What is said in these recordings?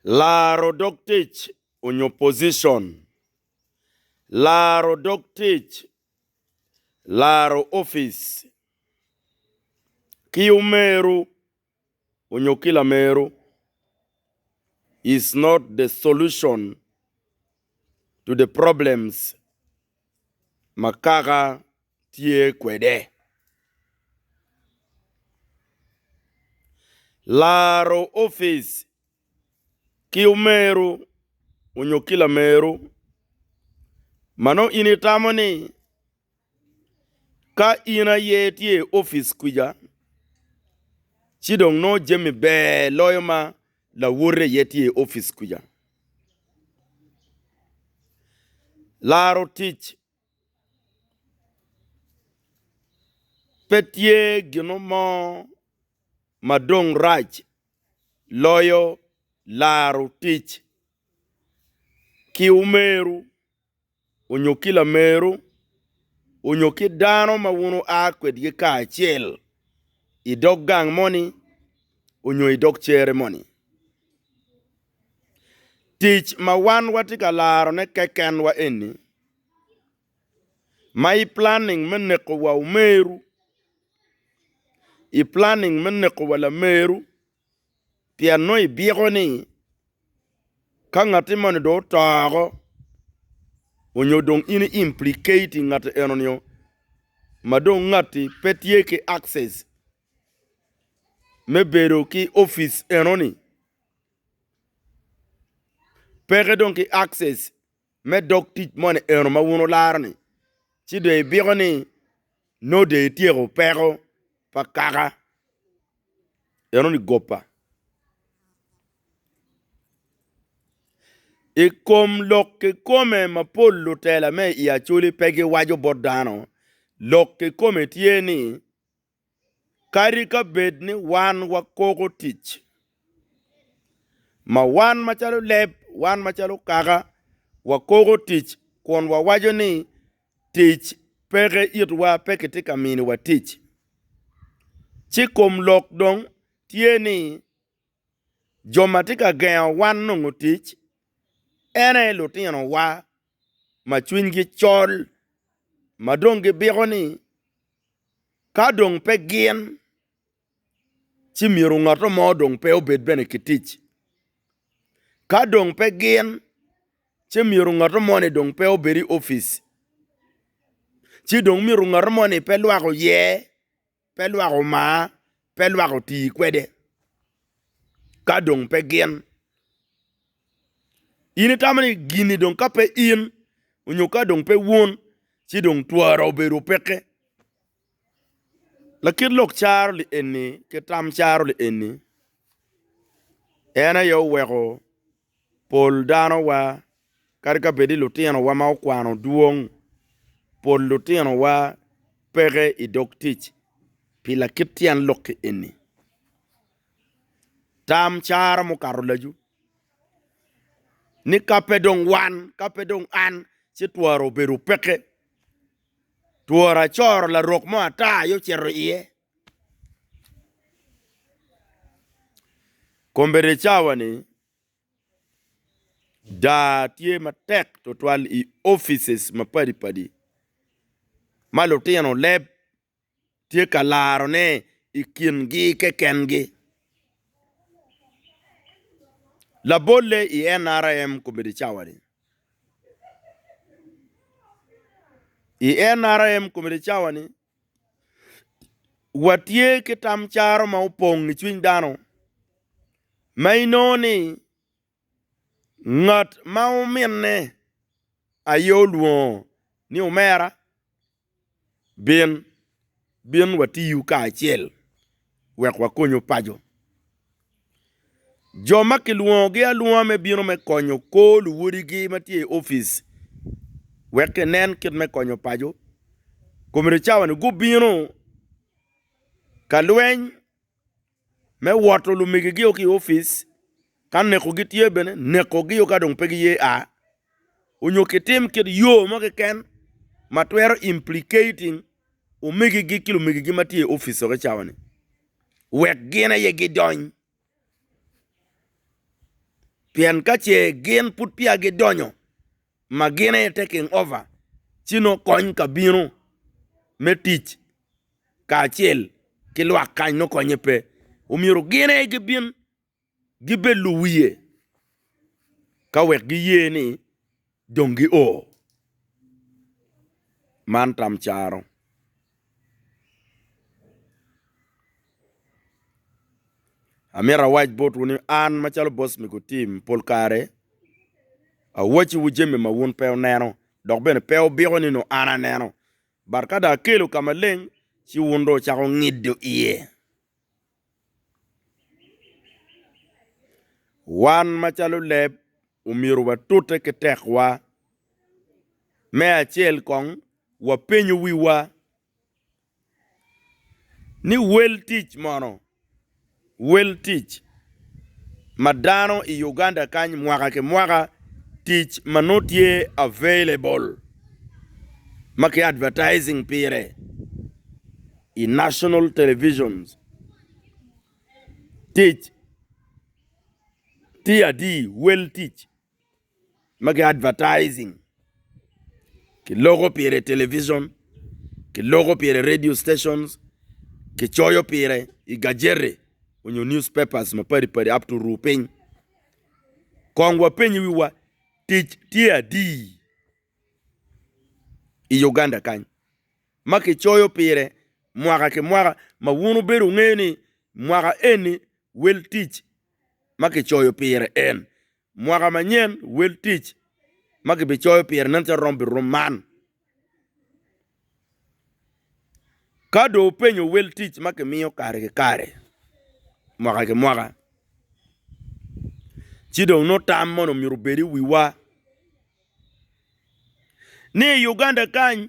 Laro dog tic onyo position. Laro dog tic, laro opic ki omeru onyo ki lameru is not the solution to the problems ma kaka tye kwede. Laro opic ki omeru onyo ki lameru ma nongo in itamo ni ka in aye tye i opic kwica ci dong nongo jami ber loyo ma lawote aye tye i opic kwica. Laro tic Pe tye gino mo ma dong rac loyo laro tic ki omeru onyo ki lameru onyo ki dano ma wun wua kwedgi kacel i dog gang moni onyo i dog cere moni. Tic ma wan watye ka larone kekenwa eni, ma i planning me neko wa omeru, i planning me neko wa lameru pien nongo ibyeko ni ka ngati moni dong otoko onyo dong in i implicating ngati eno nio ma dong ngati pe tye ki access me bedo ki opic enoni peke dong ki access me dog tic moni eno ma wun wularo ni ci dong ibiko ni nongo dong ityeko peko pa kaka enoni goba i kom lok kikome mapol lutela me i Acholi pe giwaco bot dano lok kikome tye ni kadi ka bed ni wan wakoko tic ma wan macalo leb, wan macalo kaka, wakoko tic kun wawaco ni tic peke itwa pe kitye ka miniwa tic. Ci kom lok dong tye ni Jo ma tye ka gengo wan nongo tic ene lutinowa ma cwinygi col ma dong gibiko ni ka dong pe gin ci myero ngat mo dong pe obed bene ki tic. Ka dong pe gin ci myero ngat moni dong pe obed i opic, ci dong myero ngat moni pe lwak oye. Pe lwak omar, pe lwak oti kwede, ka dong pe gin. In itamo ni gin-ni dong ka pe in onyo ka dong pe wun ci dong twara obedo peke. Lakit lok caro li eni ki tam caro li eni, en aye oweko Pol danowa, kadi ka bed ni lutinowa ma okwano dwong, pol lutinowa peke i dog tic pi lakit tyen lok-ki eni. Tam cara mukato lacu ni ka pe dong wan, ka pe dong an, ci twara obedo peke. Twara acoro larok mo ata aye ocito iye. Kombedicawani daa tye matek tutwal i opice mapadi padi ma lutino leb tye ka larone i kingi keken gi labolle i NRM kombedi cawani i NRM kombedi cawani. Watye ki tam caro ma opong i cwiny dano ma inongo ni ngat ma ominne aye olwongo ni omera bin, bin watiyu kacel wek wakonyu paco. Jo ma kilwongogi alwonga me bino me konyo kor luwodigi ma tye i opic wek kinen kit me konyo paco komedo cawani gubino ka lweny me woto lumegigi ki i opic ka neko gitye bene neko gi ka dong pe giye a onyo kitim kit yo mo keken ma twero implicating omegigi ki lumegigi ma tye i opic dok i cawa ni wek gin aye gidony pien ka ce gin pud peya gidonyo ma gin aye taking over ci nongo kony ka bino me tic kacel ki lwak kany nongo konye pe omyero gin aye gibin. gibed luwiye ka wek giye ni dong gio. Man tam caro. Amito awac botwu ni an macalo bot mego tim pol kare awacciwu jami ma wun pe wuneno dok bene pe wubiko ni nongo an aneno but ka dong akelo ka maleng ci wun dong wucako ngido iye. Wan macalo leb omyero watute ki tekwa. Me acel kong wapenyo wiwa ni wel tic mono wel tic ma dano i Uganda kany mwaka ki mwaka tic ma nongo tye available ma ki advertising pire. i National Television tic tye adi wel tic ma ki advertising ki loko pire i television ki loko pire i radio stations ki coyo pire i gajeti onyo news papers ma padi padi up to ru piny kong wa peny wi wa tic tye adi i Uganda kany. ma kicoyo pire mwaka ki mwaka, ma wun wubedo wungeyo ni mwaka eni wel tic ma kicoyo pire en. Mwaka manyen wel tic ma kibicoyo pire nen calo rom birum man. Ka dong wupenyo wel tic ma kimiyo kare ki kare mwaka ki mwaka, ci dong nongo tam moni omyero obed i wiwa ni i Uganda kany,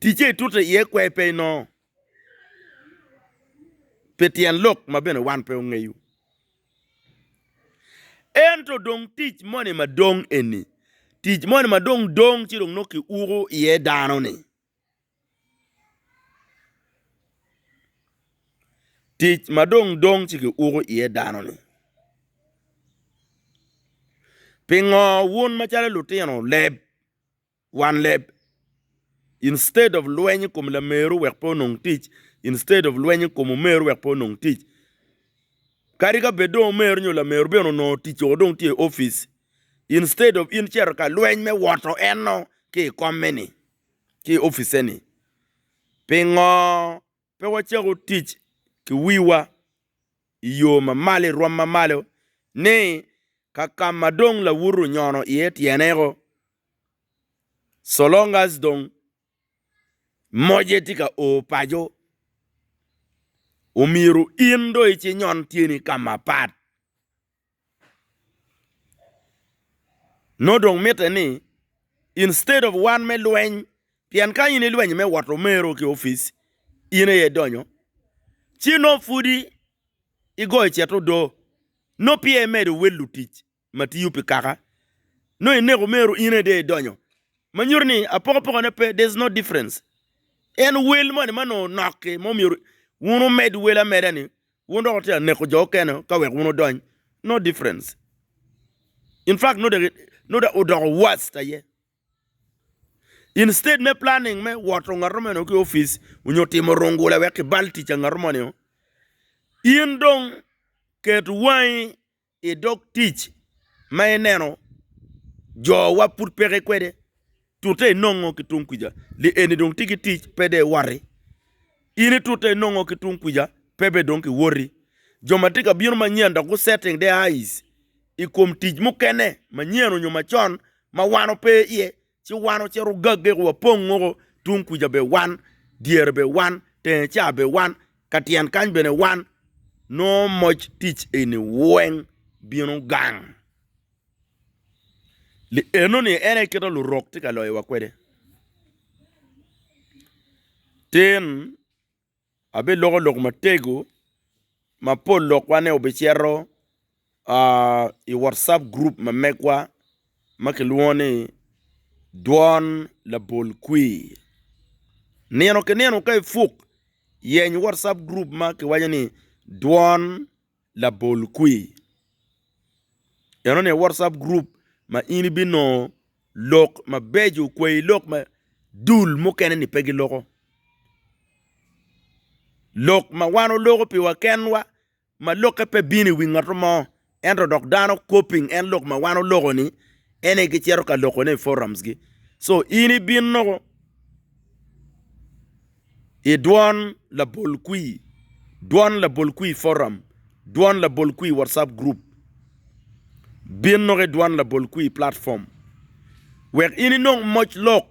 Ticce itute iye kwer pe inongo, pi tyen lok ma bene wan pe ongeyo. Ento dong tic moni ma dong eni, tic moni ma dong dong ci dong nongo kiuko iye dano-ni, tic ma dong dong ci kiuko iye dano-ni. Pingo wun macalo lutino leb? wan leb instead of lweny i kom lameru wek pe onong tic instead of lweny i kom omeru wek pe onong tic kadi ka bed dong omeru nyo lameru bene onongo tic o dong tye i office instead of in cito ka lweny me woto eno ki i komme ni ki i office ni pingo pe wacako tic ki wiwa i yo ma malo i rwom ma malo ni ka kama dong lawutu onyono iye tyene o so long as dong moje tye ka o paco omyero in dong ici nyon tyeni ka mapat nongo dong mitte ni instead of wan me lweny pien ka in ilweny me woto mero ki opic in aye idonyo ci nongo pudi igoyo cet odo nongo peya imedo wel lutic. ma tiyo pi kaka nongo ineko meru in aye dong idonyo ma nyuto ni apokapoka ne pe there's no difference en wel moni ma nongo noki ma myero wun wumed wel ameda ni wun dok wutye ka neko jo mukene ka wek wun wudony no difference in fact nongo dong nongo odoko worst aye instead me planning me woto ngato meno ki office nyo timo rungula wek kibal tic ngato moni in dong ket wangi I dog tic ma ineno jowa pud peke kwede, tute inongo ki tung kwica, li eni dong tye ki tic, pe dong iwoti. In itute inongo ki tung kwica, pe bene dong kiwoti. Jo ma tye ka bino manyen dok gu-setting their eyes i kom tic mukene manyen nyo macon ma wan ope iye, Ci wan ocito ogagge ku wapong woko, tung kuca bene wan, dyere bene wan, tenge ca bene wan, ka tyen kany bene wan. Nongo moc tic eni weng bino gang. Lienoni en aye kite Lurok tye ka loyowa kwede. Tin. abeloko lok matego ma pol lokwane obicito i wacap gurup ma megwa ma kilwongo ni dwon labol kwir nino ki nino ka ipuk yeny wacap gurup ma kiwaco ni dwon labol kwir enoni WhatsApp group ma in ibinongo lok mabeco kwai lok ma dul mukene ni pe giloko lok ma wan oloko piwa kenwa ma lokke pe bino i wi ngat mo ento dok dano copying en lok ma wan oloko ni en aye gicito ka lokone i forums gi so in ibinno I dwon labol kwir, dwon labol kwir forum, dwon labol kwir WhatsApp group, bin noko i dwon labol kwir platform wek in inong moc lok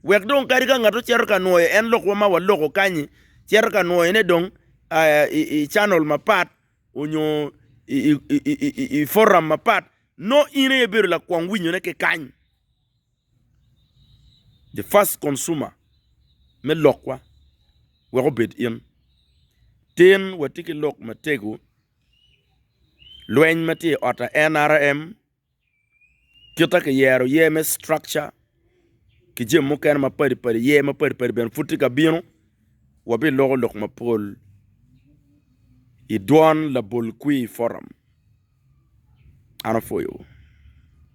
wek dong kadi ka ngat ocito ka nwoyo en lokwa ma waloko kany-nyi cito ka nwoyone dong i canal mapat onyo i forum mapat nongo in aye ibedo lakwong winyone ki kany. The first consumer me lokwa wek obed in. Tin watye ki lok matego, lweny ma tye i ot aye nrm, kite ki yero ye me structure ki jami mukene mapadi padi ye mapadi padi bene pud tye ka bino. Wabi loko lok mapol i dwon labol kwir forum. An apwoyo wu.